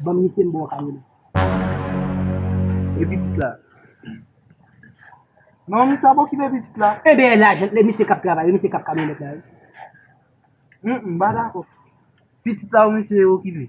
Banm misye m ba w Carmelo. E pitit la? Non misye ap okipe pitit la. Enben e lajan e misye kap travay e misye kap kamyonet la wi. Humm m pa dakò. Pitit la ou misye okipe?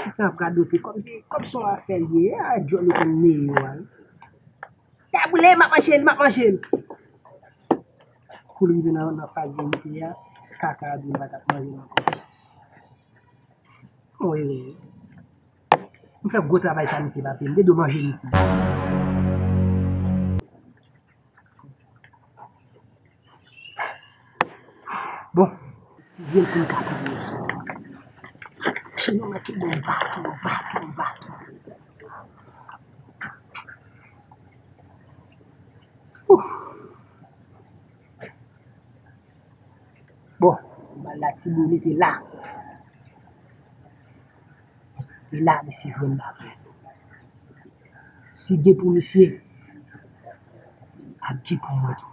Tifi ap radote komsi kòb son afè l ye a dyòl yo konn meye yo a wi. Sa boule m ap manje l m ap manje l. Kou l rive nan faz verite a kaka a di l pa t ap manje l ankò. Bon erè. M fè gwo travay sa mesye pa pye m te dwe manje misye. Bon. Tiye l pou l ka touyel sou. Chen yo manke bon baton baton baton. Ouf. Bon. Bal la ti boule te la. E la misye jwenn lapè. Si gen pou misye, ap gen pou mwen tou.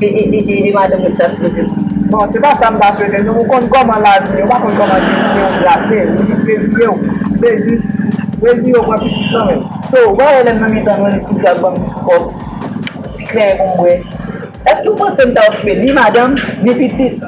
Iiiiiii madanm ou sa sipoze di. Bon se pa sa m pasyone nou ou konn kòman lavi ye ou pa konn kòman destin ou trase ou jis reziye w se jis reziye w pran pitit lan men. So ou pa wè lèm nan mitan nou li toujou ap banm ti kòb, ti kren pou m bwè. Èske ou panse m ta okipe ni madanm, ni pitit?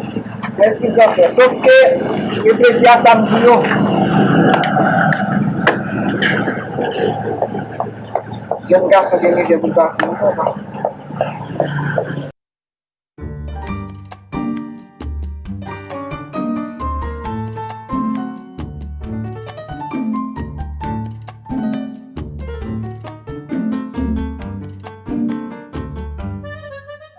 Mèsi gran frè. Sof ke reflechi a sa m di yo. Jèn gason gen mizè pou l pase wi papa.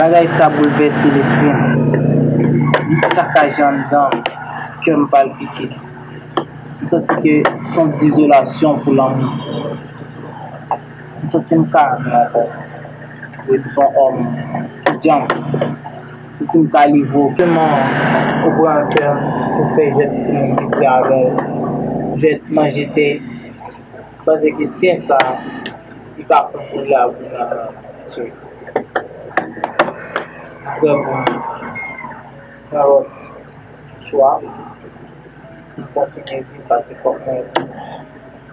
Bagay sa boulvèse lespri m. Li sakaje anndan m, kè m palpite. M santi ke s on dizolasyon pou lanmou. M santi m ka nou ankò. Wi m son òm ki djanm. M santi m ka livre w. Kman ou pran kè m pou fè jwèt timoun piti avè w. Jwèt manje tè. M panse ke tè sa li ka fon koze ak ou nan tchè. Aprè pou m fon lòt chwa pou m kontinye viv paske fòk mwen viv.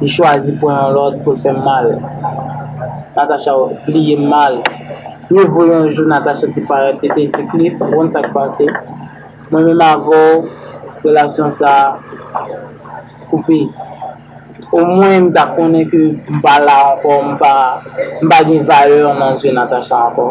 Li chwazi pran yon lòt pou l fè m mal. Natacha, Ou li ye m mal. Mieux vaut yon jou Natacha te parèt li te di Cliff, ou konn sa k pase, mwen menm avè w relasyon sa a koupe. Omwen m ta konnen ke m pa la ankò, m pa gen valè nan zye Natacha ankò.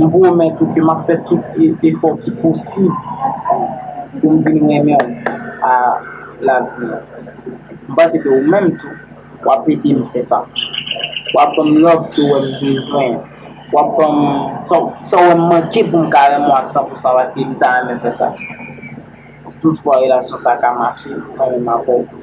M pwomèt ou ke m ap fè tout efò ki posib pou m vin renmen w a lavi. M panse ke ou menm tou, w ap ede m fè sa. W ap ban m love ke w wè m bezwen an. W ap ban m sa w wè m manke pou m ka renmen w ak san pou san paske m ta renmen fè sa. Si tout fwa relasyon sa ka mache, mwen menm avè w.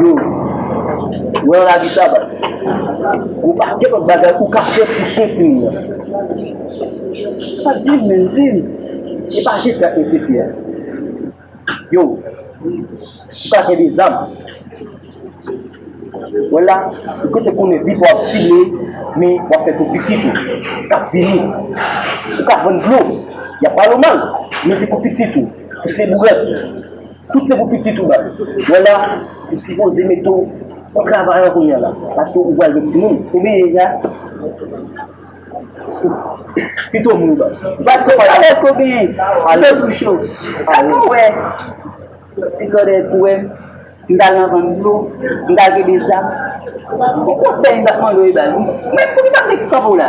Yo Ou wè yon lavi Shabazz Ou pa gen lòt bagay ou ka fè pou swen timoun nan Pat dim menm dim E pa jete ak mesye fi a Yo Ou ka gen 2 zam Ou wè la Ou kote konnen vit wap file Men wap fè pou pitit ou Kap vini Ou ka vann dlo Yap pale w mal Men se pou pitit ou Pou se bourèt Tout se pou pitit ou baz. Wè la ou sipoze mete w pou travay an kounya la paske ou pral gen timoun ou byen ye ya pito moun baz. Baz ki kalòt eske w genyen ou te bouche w sa tou wè ti kòde pou wè m ta al nan vann dlo m ta kenbe sa on konsèy m tap mande w baz mwen m tap vle kanpe w la.